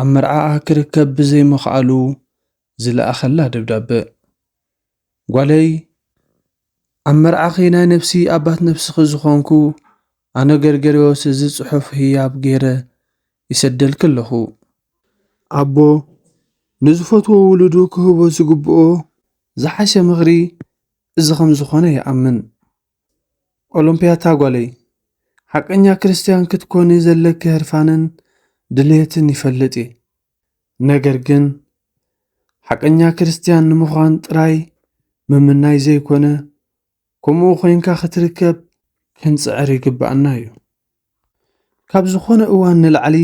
ኣብ መርዓኣ ክርከብ ብዘይምኽኣሉ ዝለኣኸላ ደብዳበ። ጓለይ ኣብ መርዓኺ ናይ ነብሲ ኣባት ነብስኺ ዝኾንኩ ኣነ ገርገርዮስ እዚ ጽሑፍ ህያብ ገይረ ይሰደልኪ ኣለኹ። ኣቦ ንዝፈትዎ ውሉዱ ክህቦ ዝግብኦ ዝሓሸ ምኽሪ እዚ ከም ዝኾነ ይኣምን። ኦሎምፕያታ ጓለይ ሓቀኛ ክርስትያን ክትኮኒ ዘለኪ ህርፋንን ድልየትን ይፈልጥ እየ ነገር ግን ሓቀኛ ክርስትያን ንምዃን ጥራይ ምምናይ ዘይኮነ ከምኡ ኮንካ ክትርከብ ክንጽዕር ይግብኣና እዩ ካብ ዝኾነ እዋን ንላዕሊ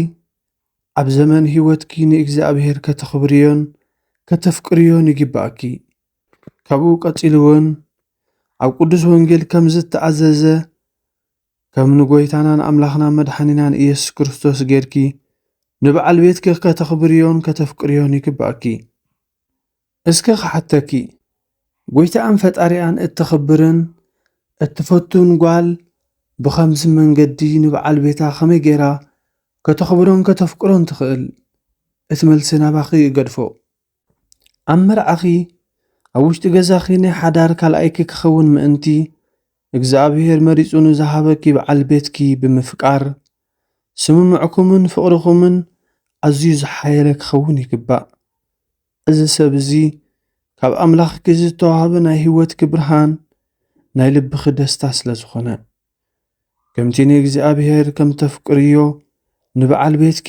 ኣብ ዘመን ህይወትኪ ንእግዚኣብሔር ከተኽብርዮን ከተፍቅርዮን ይግብኣኪ ካብኡ ቀጺሉውን ኣብ ቅዱስ ወንጌል ከም ዝተኣዘዘ ከም ንጎይታናን ኣምላኽና መድሓኒናን ኢየሱስ ክርስቶስ ጌርኪ ንበዓል ቤትኪ ከተኽብርዮን ከተፍቅርዮን ይግብኣኪ። እስከ ክሓተኪ ጎይታኣን ፈጣሪኣን እተኽብርን እትፈቱን ጓል ብኸምዚ መንገዲ ንበዓል ቤታ ከመይ ጌራ ከተኽብሮን ከተፍቅሮን ትኽእል? እቲ መልሲ ናባኺ እገድፎ። ኣብ መርዓኺ ኣብ ውሽጢ ገዛኺ ናይ ሓዳር ካልኣይኪ ክኸውን ምእንቲ እግዚኣብሔር መሪጹ ንዝሃበኪ በዓል ቤትኪ ብምፍቃር ስምምዕኩምን ፍቕርኹምን ኣዝዩ ዝሓየለ ክኸውን ይግባእ። እዚ ሰብ እዚ ካብ ኣምላኽኪ ዝተዋህበ ናይ ህይወትኪ ብርሃን ናይ ልብኺ ደስታ ስለ ዝኾነ ከምቲ ንእግዚኣብሔር ከም ተፍቅርዮ ንበዓል ቤትኪ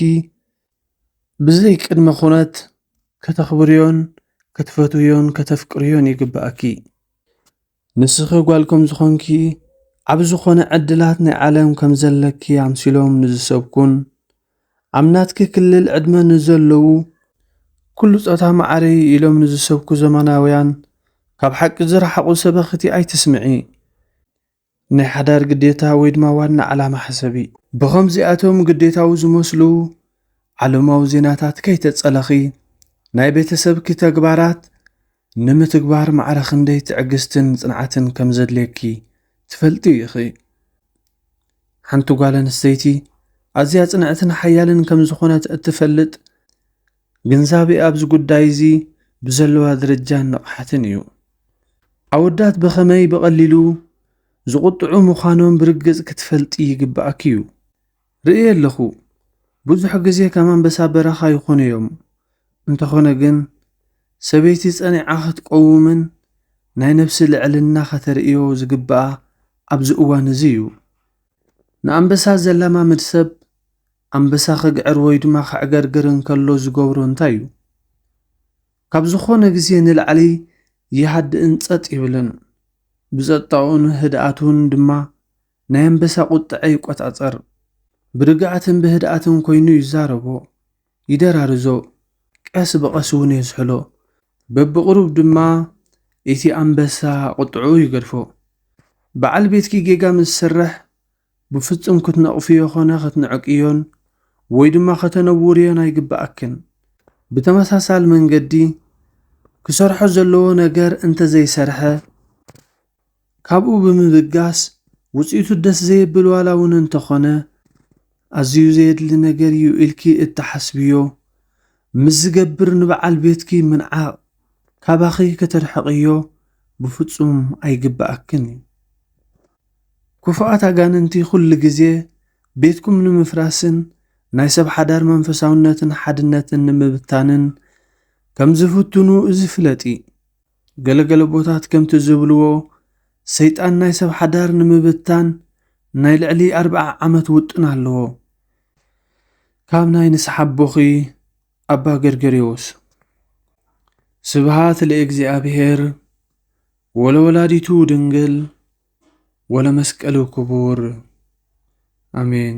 ብዘይ ቅድመ ኩነት ከተኽብርዮን ክትፈትውዮን ከተፍቅርዮን ይግብኣኪ። ንስኺ ጓል ከም ዝኾንኪ ኣብ ዝኾነ ዕድላት ናይ ዓለም ከም ዘለኪ ኣምሲሎም ንዝሰብኩን ኣብ ናትኪ ክልል ዕድመ ንዘለዉ ኩሉ ጾታ ማዕረ እዩ ኢሎም ንዝሰብኩ ዘመናውያን ካብ ሓቂ ዝረሓቑ ሰበኽቲ ኣይትስምዒ። ናይ ሓዳር ግዴታ ወይ ድማ ዋና ዓላማ ሕሰቢ። ብኸምዚኣቶም ግዴታዊ ዝመስሉ ዓለማዊ ዜናታት ከይተጸለኺ፣ ናይ ቤተሰብኪ ተግባራት ንምትግባር ማዕረ ክንደይ ትዕግስትን ጽንዓትን ከም ዘድልየኪ ትፈልጢ ኢኺ። ሓንቲ ጓል ኣንስተይቲ ኣዝያ ጽንዕትን ሓያልን ከም ዝኾነት እትፈልጥ ግንዛቤ ኣብዚ ጉዳይ እዚ ብዘለዋ ደረጃን ንቕሓትን እዩ። ኣወዳት ብኸመይ ብቐሊሉ ዝቑጥዑ ምዃኖም ብርግጽ ክትፈልጢ ይግብኣኪ እዩ። ርእየ ኣለኹ፣ ብዙሕ ግዜ ከም ኣንበሳ በረኻ ይኾኑ እዮም። እንተኾነ ግን፣ ሰበይቲ ጸኒዓ ክትቆውምን ናይ ነብሲ ልዕልና ከተርእዮ ዝግብኣ ኣብዚ እዋን እዚ እዩ። ንኣንበሳ ዘላማምድ ሰብ ኣንበሳ ኺግዕር ወይ ድማ ኼዕገርግር እንከሎ ዚገብሮ እንታይ እዩ? ካብ ዝዀነ ግዜ ንላዕሊ ይሃድእን ጸጥ ይብልን። ብጸጥታኡን ህድኣቱን ድማ ናይ ኣንበሳ ቝጥዐ ይቈጻጸር። ብርግኣትን ብህድኣትን ኰይኑ ይዛረቦ፣ ይደራርዞ፣ ቀስ ብቐስ እውን የዝሕሎ። በብቕሩብ ድማ እቲ ኣንበሳ ቝጥዕኡ ይገድፎ። በዓል ቤትኪ ጌጋ ምስ ዝሰርሕ፣ ብፍጹም ክትነቕፍዮ ኾነ ክትንዕቅዮን ወይ ድማ ከተነውርዮን ኣይግብኣክን። ብተመሳሳሊ መንገዲ ክሰርሖ ዘለዎ ነገር እንተ ዘይሰርሐ ካብኡ ብምብጋስ ውጽኢቱ ደስ ዘየብል ዋላ እውን እንተ ኾነ ኣዝዩ ዘየድሊ ነገር እዩ ኢልኪ እትሓስብዮ ምስ ዝገብር ንበዓል ቤትኪ ምንዓቕ ካባኺ ከተርሕቕዮ ብፍጹም ኣይግብኣክን እዩ። ክፉኣት ኣጋንንቲ ዅሉ ግዜ ቤትኩም ንምፍራስን ናይ ሰብ ሓዳር መንፈሳውነትን ሓድነትን ንምብታንን ከም ዚፍትኑ እዚ ፍለጢ። ገለ ገለ ኣቦታት ከምቲ ዚብልዎ፣ ሰይጣን ናይ ሰብ ሓዳር ንምብታን ናይ ልዕሊ ኣርብዓ ዓመት ውጥን ኣለዎ። ካብ ናይ ንስሓ ኣቦኺ ኣባ ገርገርዮስ። ስብሃት ለእግዚኣብሔር። ወለወላዲቱ ድንግል ወለመስቀሉ ክቡር ኣሜን።